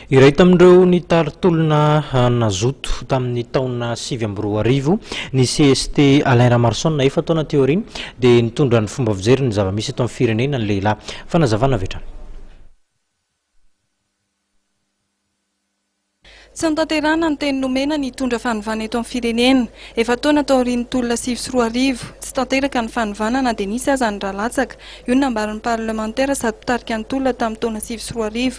Iray tamin'ireo nitary tolona nazoto tamin'ny taona sivy amby roa arivo ny cst Alain Ramaroson efa taona teo aoriana dia nitondra ny fomba fijery ny zava-misy eto amin'ny firenena ny lehilahy. Fanazavana avy hatrany. Tsy notanterahina ny teny nomena ny hitondra fanovana eto amin'ny firenena. Efa taona taorian'ny tolona sivy sy roa arivo, tsy tanteraka ny fanovana na dia nisy aza ny rà latsaka. Io no nambaran'ny parlemantera sady mpitarika ny tolona tamin'ny taona sivy sy roa arivo,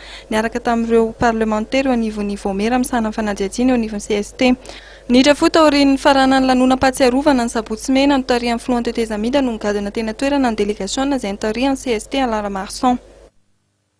niaraka tamin'ireo parlemantera eo anivon'ny Vaomiera misahana ny fanajiajiana eo anivon'ny cst. Ny Rafou taorian'ny nifaranan'ny lanonam-pahatsiarovana ny sabotsy mena notarihan'ny filohan'ny tetezamita no nigadona teny an-toerana ny delegasiona izay nitarihan'ny cst Alara Marson.